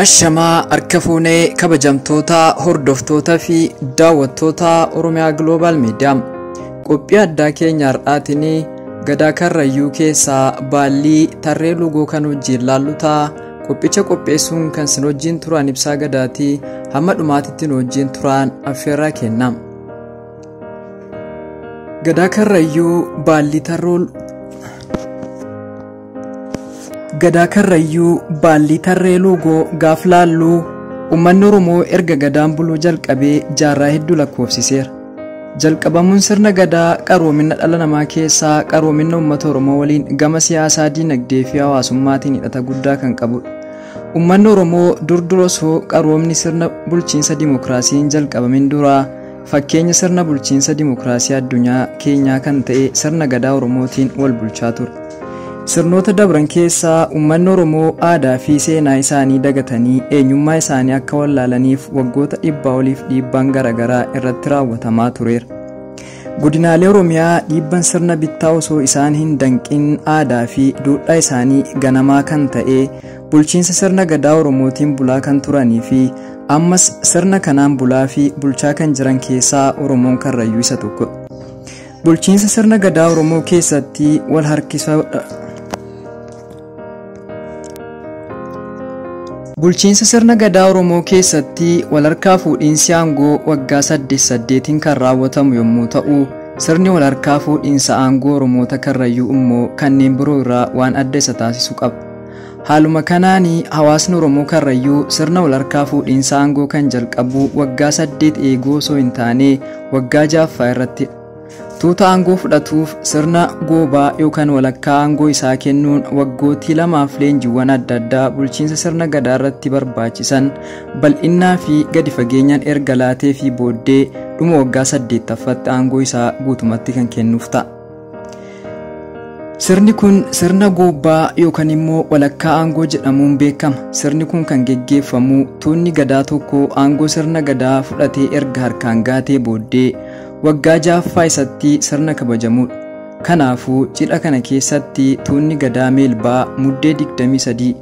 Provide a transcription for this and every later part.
Ashamaa harka fuunee kabajamtoota hordoftoota fi daawwattoota Oromiyaa Global Media qophii addaa keenya har'aatiin gadaa karrayyuu keessaa baallii tarree lugoo kan wajjin laallutaa Qophicha qopheessuun kan sin wajjin turaan ibsaa gadaatii hamma dhumaatitti nu wajjin turaan affeerraa kenna. Gadaa Karrayyuu Baallii Tarrool Gadaa Karrayyuu Baallii Tarree Luugoo gaaf laalluu uummanni Oromoo erga gadaan buluu jalqabee jaarraa hedduu lakkoofsiseera. Jalqabamuun sirna gadaa qaroomina dhala namaa keessaa qaroomina uummata Oromoo waliin gama siyaasaa, diinagdee fi hawaasummaatiin hidhata guddaa kan qabudha. Uummanni Oromoo dur dur osoo qaroomni sirna bulchiinsa dimokiraasiin jalqabamin dura fakkeenya sirna bulchiinsa dimokiraasii addunyaa keenyaa kan ta'e sirna gadaa Oromootiin wal bulchaa ture. Sirnoota dabran keessa uummanni Oromoo aadaa fi seenaa isaanii dagatanii eenyummaa isaanii akka wallaalaniif waggoota dhibbaa oliif dhiibbaan garaagaraa irratti raawwatamaa tureera. Godinaalee Oromiyaa dhiibban sirna bittaa osoo isaan hin danqin aadaa fi duudhaa isaanii ganamaa kan ta'e bulchiinsa sirna gadaa Oromootiin bulaa kan turanii fi ammas sirna kanaan bulaa fi bulchaa kan jiran keessaa Oromoon Karrayyuu isa tokkodha. Bulchiinsa sirna gadaa Oromoo keessatti wal harkisoodha. Bulchiinsa sirna gadaa Oromoo keessatti wal harkaa fuudhiinsi aangoo waggaa saddeet saddeetiin kan raawwatamu yommuu ta'u, sirni wal harkaa fuudhiinsa aangoo Oromoota Karrayyuu immoo kanneen biroo irraa waan adda isa taasisu qaba. Haaluma kanaan hawaasni Oromoo Karrayyuu sirna walharkaa fuudhiinsa aangoo kan jalqabu waggaa saddeet eeguu osoo hin taane waggaa jaaffaa irratti tuuta aangoo fudhatuuf sirna goobaa yookaan walakkaa aangoo isaa kennuun waggootii lamaaf leenjiiwwan adda addaa bulchiinsa sirna gadaa irratti barbaachisan bal'innaa fi gadi fageenyaan erga laatee fi booddee dhuma waggaa saddeettaffaatti aangoo isaa guutumatti kan kennuuf ta'a. Sirni kun sirna goobbaa yookaan immoo walakkaa aangoo jedhamuun beekama. Sirni kun kan geggeeffamu tuunni gadaa tokko aangoo sirna gadaa fudhatee erga harkaan gaatee booddee waggaa ja'affaa isatti sirna kabajamudha. Kanaafuu cidha kana keessatti tuunni gadaa meelbaa muddee 23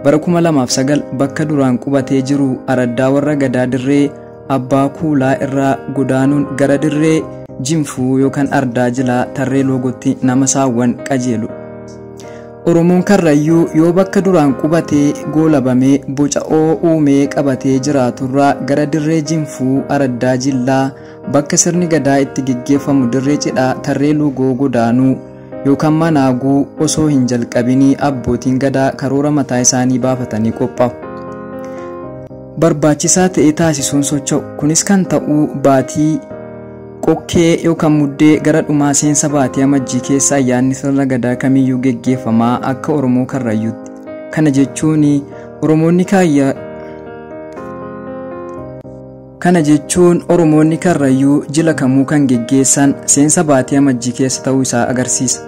Bara 2009 bakka duraan qubatee jiru araddaa warra gadaa dirree abbaa kuulaa irraa godaanuun gara dirree jinfuu yookaan ardaa jilaa tarree loogotti nama saawwan qajeelu. Oromoon Karrayyuu yoo bakka duraan qubatee goolabamee boca oo uumee qabatee jiraaturraa gara dirree jinfuu araddaa jillaa bakka sirni gadaa itti geggeeffamu dirree cidhaa tarree luugoo godaanuu Yookaan mana haguu osoo hin jalqabinii abbootiin gadaa karoora mataa isaanii baafatanii qophaa'u. Barbaachisaa ta'e taasisuun socho'u. Kunis kan ta'u baatii qokkee yookaan muddee gara dhumaa seensa baatii amajjii keessa ayyaanni sirna gadaa kamiyyuu geggeeffamaa akka Oromoo Karrayyuutti. Kana jechuun Oromoonni kaayya Kana jechuun Oromoonni Karrayyuu jila kamuu kan geggeessan seensa baatii Amajjii keessa ta'uu isaa agarsiisa.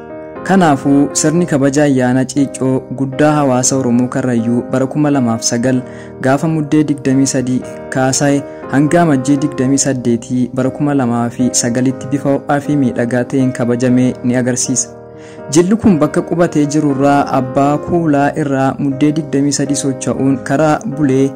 Kanaafuu, sirni kabaja ayyaana Ciiccoo guddaa hawaasa Oromoo Karrayyuu bara 2009 gaafa Muddee 23 kaasae hanga Amajjii 28 bara 2009tti bifa ho'aa fi miidhagaa ta'een kabajame ni agarsiisa. Jilli kun bakka qubatee jirurraa abbaa kuulaa irraa muddee 23 socha'uun karaa bulee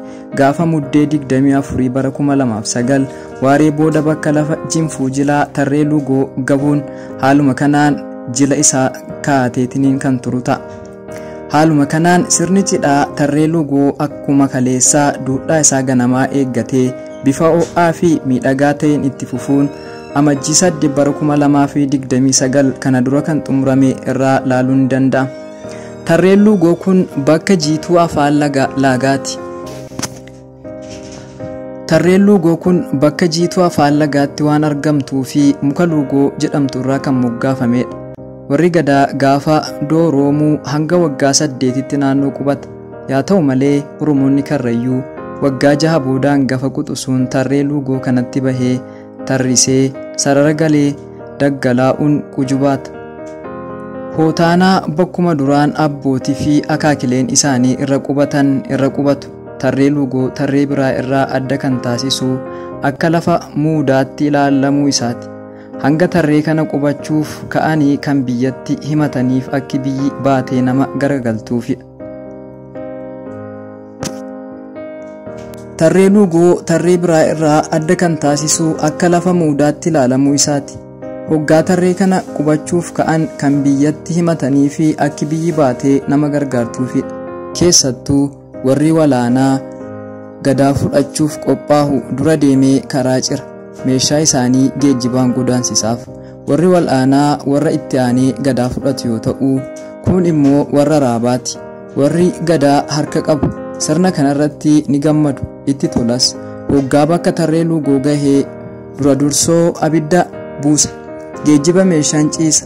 gaafa muddee 24 bara 2009 waaree booda bakka lafa jinfuu jilaa tarree lugoo gabuun haaluma kanaan jila isaa kaateetiniin kan turu ta'a. Haaluma kanaan sirni cidhaa tarree lugoo akkuma kaleessaa duudhaa isaa ganamaa eeggatee bifa ho'aa fi miidhagaa ta'een itti fufuun amajjii 8 bara 2029 kana dura kan xumurame irraa laaluun ni danda'a. Tarreen lugoo kun bakka jiituu afaan laagaati. Tarreen luugoo kun bakka jiituu afaan lagaatti waan argamtuu fi muka luugoo jedhamtu irraa kan moggaafamedha. Warri gadaa gaafa du'a roomuu hanga waggaa saddeetitti naannoo qubata. Yaa ta'u malee Oromoonni Karrayyuu waggaa jaha booda hangafa quxusuun tarree luugoo kanatti bahee tarrisee sarara galee daggalaa'uun qujubaata. Hootaanaa bakkuma duraan abbootii fi akaakileen isaanii irra qubatan irra qubatu. tarree luugoo tarree biraa irraa adda kan taasisu akka lafa muudaatti ilaalamuu isaati. Hanga tarree kana qubachuuf ka'anii kan biyyatti himataniif akki biyyi baatee nama garagaltuufidha. Tarree luugoo tarree biraa irraa adda kan taasisu akka lafa muudaatti ilaalamuu isaati. Hoggaa tarree kana qubachuuf ka'an kan biyyatti himatanii fi akki biyyi baatee nama gargaartuufidha. Keessattuu Warri walaanaa gadaa fudhachuuf qophaahu dura deemee karaa cira. Meeshaa isaanii geejjibaan godaansisaaf. Warri wal'aanaa warra itti aanee gadaa fudhatu yoo ta'u, kuun immoo warra raabaati. Warri gadaa harka qabu sirna kanarratti ni gammadu, itti tolas. Hoggaa bakka tarree luugoo gahee dura dursoo abidda buusa. Geejjiba meeshaan ciisa.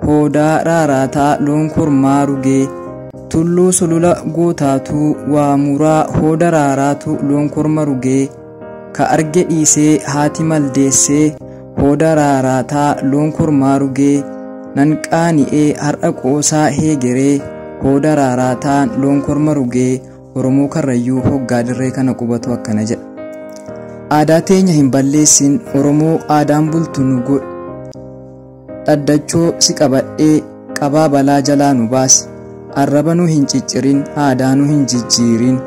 Hoodaa raaraataa loon kormaa rugee. Tulluu sulula gootaatuu waa muraa hooda raaraatu loon korma rugee. Ka arge dhiisee haati maldeessee hooda raaraataa loon kormaa rugee. Nan qaani'ee har'a qoosaa heegeree hooda raaraataan loon korma rugee. Oromoo Karrayyuu hoggaa dirree kana qubatu akkana jedha. Aadaa teenya hin balleessin Oromoo aadaan bultu nu godhi. Dhaddachoo si qabadhee qabaa balaa jalaa nu baasi arraba nu hin ciccirin aadaa nu hin jijjiirin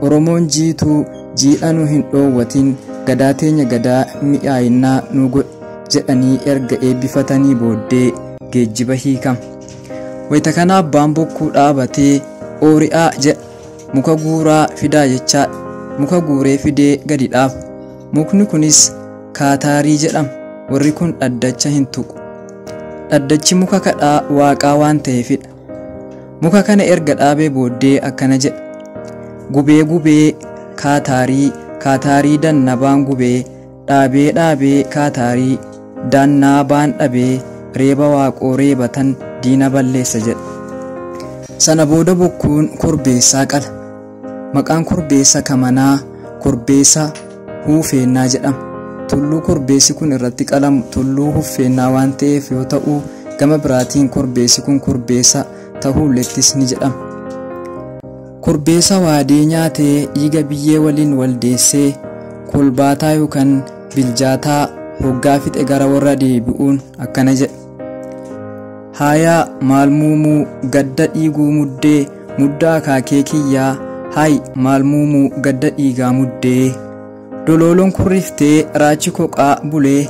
oromoon jiituu jiidha nu hin dhoowwatin gadaa teenya gadaa mi'aayinnaa nu godhi jedhanii erga eebbifatanii booddee geejjiba hiikam. Wayita kana abbaan bokkuu dhaabatee oori'aa jedha muka guuraa fidaa jechaa muka guuree fidee gadi dhaabu. Mukni kunis kaataarii jedhama. Warri kun dhaddacha hin tuqu. Dhaddachi muka kadhaa waaqaa waan ta'eefidha. Muka kana erga dhaabee booddee akkana jedha. Gubee gubee kaataarii kaataarii dannabaan gubee dhaabee dhaabee kaataarii dannaabaan dhabee reeba waaqoo reebatan diina balleessa jedha. Sana booda bokkuun korbeessaa qala. Maqaan korbeessa kamanaa korbeessa huufeennaa jedhama. Tulluu korbeessi kun irratti qalamu tulluu huffeennaa waan ta'eef yoo ta'u gama biraatiin korbeessi kun korbeessa tahuullettis ni jedhama. Korbeessa waadee nyaatee dhiiga biyyee waliin waldeessee kolbaataa yookan biljaataa hoggaa fixe gara warra deebi'uun akkana jedha. Haayaa maal muumuu gadda dhiiguu muddee muddaa akaakee kiyyaa haay maal muumuu gadda dhiigaa muddee dolooloon kurriftee raachi koqaa bulee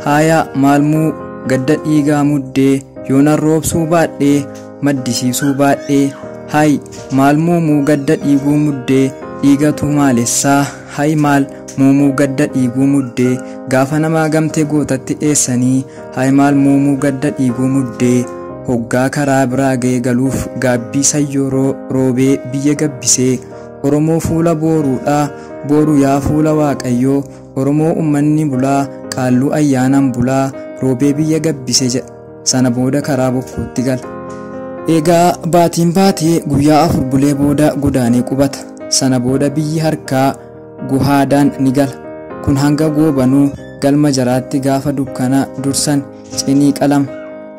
haayaa maal muu gadda dhiigaa muddee yoonan roobsuu baadhee maddisiisuu baadhee haay maal muumuu gadda dhiiguu muddee dhiigatu maalessaa haay maal muumuu gadda dhiiguu muddee gaafa namaa gamtee gootatti dheessanii Haimaal Muumuu Gadda Dhiiguu Muddee hoggaa karaa biraa gaye galuuf gaabbii sayyoo roo roobee biyya gabbisee Oromoo fuula booruu dha booru yaa fuula waaqayyoo Oromoo ummanni bulaa qaalluu ayyaanaan bulaa roobee biyya gabbise jedha sana booda karaa bokkuutti gala. Egaa baatiin baatee guyyaa afur bulee booda godaanee qubata sana booda biyyi harkaa guhaadaan ni gala. Kun hanga goobanuu galma jaraatti gaafa dukkana dursan cinii qalama.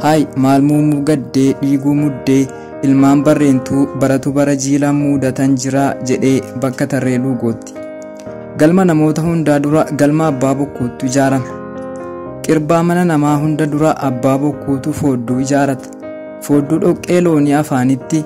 Hay maal muumuu gaddee dhiiguu muddee ilmaan barreentuu baratu bara jiilaan muudatan jiraa jedhee bakka tarree luugootti. Galma namoota hundaa dura galma abbaa bokkuuttu ijaarama. Qirbaa mana namaa hunda dura abbaa bokkuutu foodduu ijaarata. Foodduu dhoqqee loonii afaanitti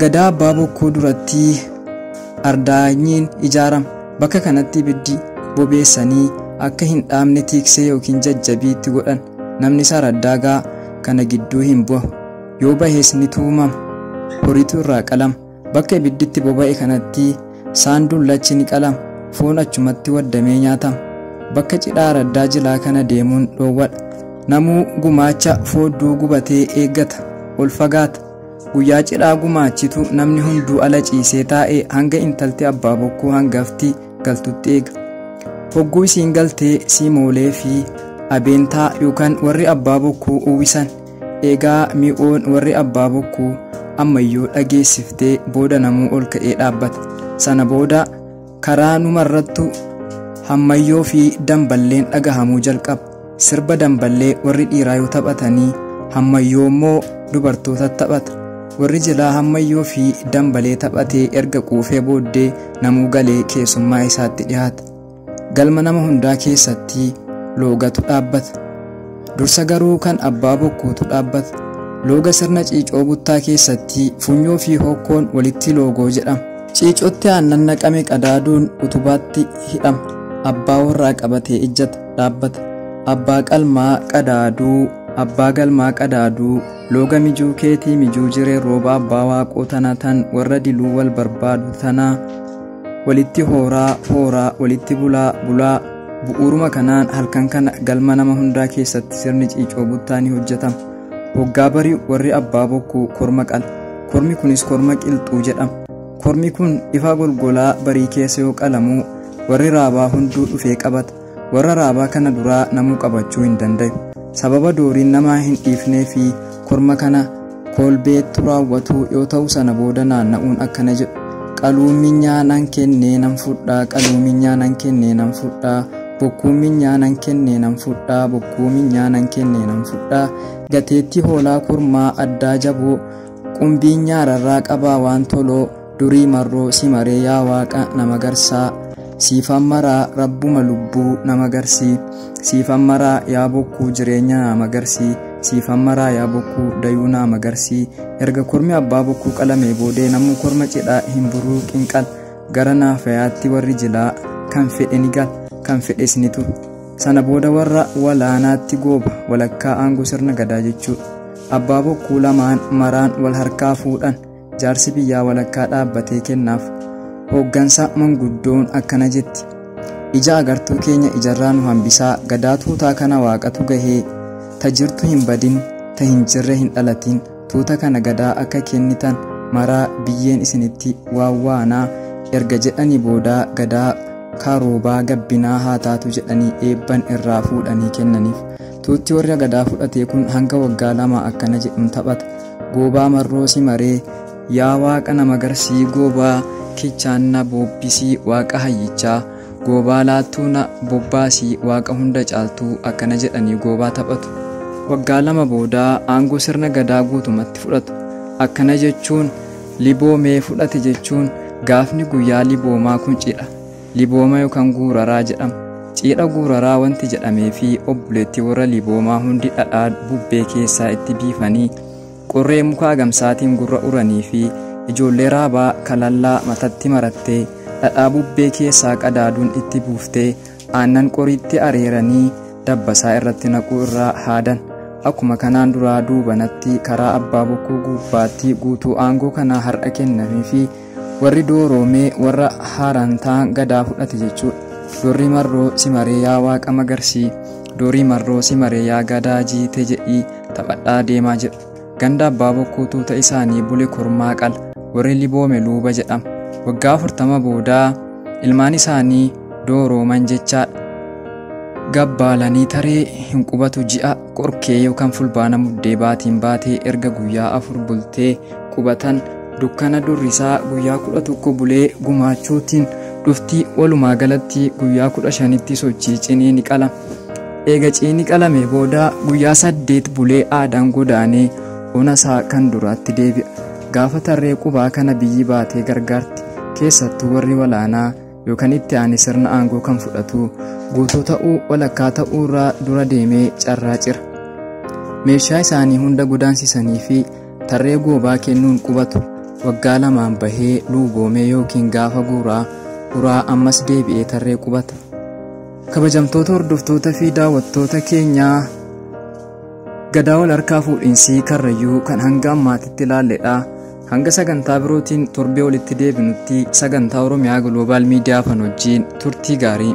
Gadaa Abbaa Bokkuu duratti ardaanyiin ijaarama. Bakka kanatti ibiddi bobeessanii akka hin dhaamne tiiksee yookiin jajjabii itti godhan. Namni isaa raddaagaa kana gidduu hin bahu. Yoo bahes ni tuumama. Horiitu irraa qalama. Bakka ibiddi itti boba'e kanatti Saan dullachi ni qalama, foon achumatti waddamee nyaatama. Bakka cidhaa araddaa jilaa kana deemuun dhoowwadha. Namuu gumaacha foodduu gubatee eeggata, ol fagaata. Guyyaa cidhaa gumaachitu namni hunduu ala ciisee taa'e hanga intalti abbaa bokkuu hangafti galtutti eega. Hogguu isiin galtee siimoolee fi abeentaa yookaan warri abbaa bokkuu uwwisan Eegaa mi'oon warri abbaa bokkuu ammayyoo dhageessiftee booda namuu ol ka'ee dhaabbata. Sana booda karaa numarrattu hammayyoo fi damballeen dhagahamuu jalqaba. Sirba damballee warri dhiiraa yoo taphatanii hammayyoo immoo dubartootatu taphata. Warri jilaa hammayyoo fi dambalee taphatee erga quufee booddee namuu galee keessummaa isaatti dhihaata. Galma nama hundaa keessatti loogatu dhaabbata. Dursa garuu kan abbaa bokkuutu dhaabbata. Looga sirna ciicoo buttaa keessatti funyoo fi hokkoon walitti loogoo jedhama. Ciicootti aannan naqame qadaaduun utubaatti hidhama. Abbaa warraa qabatee ijjata dhaabbata. Abbaa qalmaa qadaaduu abbaa galmaa qadaaduu looga mijuu keetii mijuu jiree rooba abbaa waaqoo tana tan warra diluu wal barbaadu tanaa walitti hooraa hooraa walitti bulaa bulaa bu'uuruma kanaan halkan kana galma nama hundaa keessatti sirni ciicoo buttaa ni hojjetama hoggaa bari'u warri abbaa bokkuu korma qala kormi kunis korma qilxuu jedhama kormi kun ifa golgolaa barii keessa yoo qalamuu warri raabaa hunduu dhufee qabata Warra raabaa kana duraa namuu qabachuu hin dandayu. Sababa dooriin namaa hin dhiifnee fi korma kana koolbeettu raawwatu yoo ta'u sana booda naanna'uun akkana jedhu. Qaluun minyaa nan kennee nan fudhaa qaluun minyaa nan kennee nan fudhaa bokkuun minyaa nan kennee nan fudhaa bokkuu minyaa nan kennee nan fudhaa gateettii hoolaa kormaa addaa jaboo qumbiin nyaararraa qabaa waan toloo durii marroo si maree yaa waaqa nama garsaa siifan maraa rabbuma lubbuu nama garsii siifan maraa yaa bokkuu jireenya nama garsii siifan maraa yaa bokkuu dayuu nama garsii erga kormi abbaa bokkuu qalamee boodee namuu korma cidhaa hin buruu qinqal gara naafayaatti warri jilaa kan fedhe ni gal kan fedhes ni turu sana booda warra walaanaatti gooba walakkaa aangoo sirna gadaa jechuu abbaa bokkuu lamaan maraan wal harkaa fuudhan Jaarsi biyyaa walakkaa dhaabbatee kennaaf. Hooggansa manguddoon akkana jetti. Ija agartuu keenya ijarraa nu hambisaa gadaa tuutaa kana waaqatu gahee ta jirtu hin badin ta hin jirre hin dhalatin tuuta kana gadaa akka kennitan maraa biyyeen isinitti waawwaanaa erga jedhanii boodaa gadaa kaaroobaa gabbinaa haa taatu jedhanii eebban irraa fuudhanii kennaniif. Tuutti warra gadaa fudhatee kun hanga waggaa lama akkana jedhuun taphata. Goobaa marroo si maree yaa waaqa na magarsii goobaa kichaan na boobbisii waaqa hayyichaa goobaa laattuu na bobbaasii waaqa hunda caaltuu akkana jedhanii goobaa taphatu. Waggaa lama booda aangoo sirna gadaa guutumatti fudhatu. Akkana jechuun liboomee fudhate jechuun gaafni guyyaa liboomaa kun cidha. Libooma yookaan guuraraa jedhama. Ciidha guuraraa wanti jedhamee fi obboleetti warra liboomaa hundi dhadhaa bubbee keessaa itti biifanii qorree mukaa gamsaatiin gurra uranii fi ijoollee raabaa kalallaa matatti marattee dhadhaa bubbee keessaa qadaaduun itti buuftee aannan qoriitti areeranii dabbasaa irratti naquu irraa haadan. Akkuma kanaan duraa duubanatti karaa abbaa bokkuu guubbaatti guutuu aangoo kanaa har'a kennamee fi Warri dooroo mee warra haaraan ta'an gadaa fudhate jechuudha. Doorrii marroo si maree yaa waaqa magarsii. Doorii marroo si maree yaa gadaa jiite jedhii taphadhaa deemaa jedhu. Ganda abbaa bokkuu tuuta isaanii bule kormaa qala. Warri liboome luuba jedhama. Waggaa afurtama boodaa ilmaan isaanii doorooman jechaadha. Gabbaalanii taree hin qubatu ji'a qorkee yookaan fulbaana muddee baatiin baatee erga guyyaa afur bultee qubatan dukkana durrisaa guyyaa kudha tokko bulee gumaachuutiin dhufti walumaa galatti guyyaa kudha shanitti sochii cinii ni qala eega ciini qalame booda guyyaa saddeet bulee aadaan godaanee ona isaa kan duraatti deebi'a gaafa tarree qubaa kana biyyi baatee gargaarti keessattuu warri walaanaa yookaan itti aane sirna aangoo kan fudhatu guutuu ta'uu walakkaa ta'uu irraa dura deemee carraa cira meeshaa isaanii hunda godaansisanii fi tarree goobaa kennuun qubatu waggaa lamaan bahee luuboomee yookiin gaafa guuraa uraa ammas deebi'ee tarree qubata kabajamtoota hordoftoota fi daawwattoota keenyaa gadaa wal harkaa fuudhinsii karrayyuu kan hanga ammaatitti ilaalledha. Hanga sagantaa birootiin torbee walitti deebinutti sagantaa Oromiyaa Global Media Afan wajjin turtii gaarii.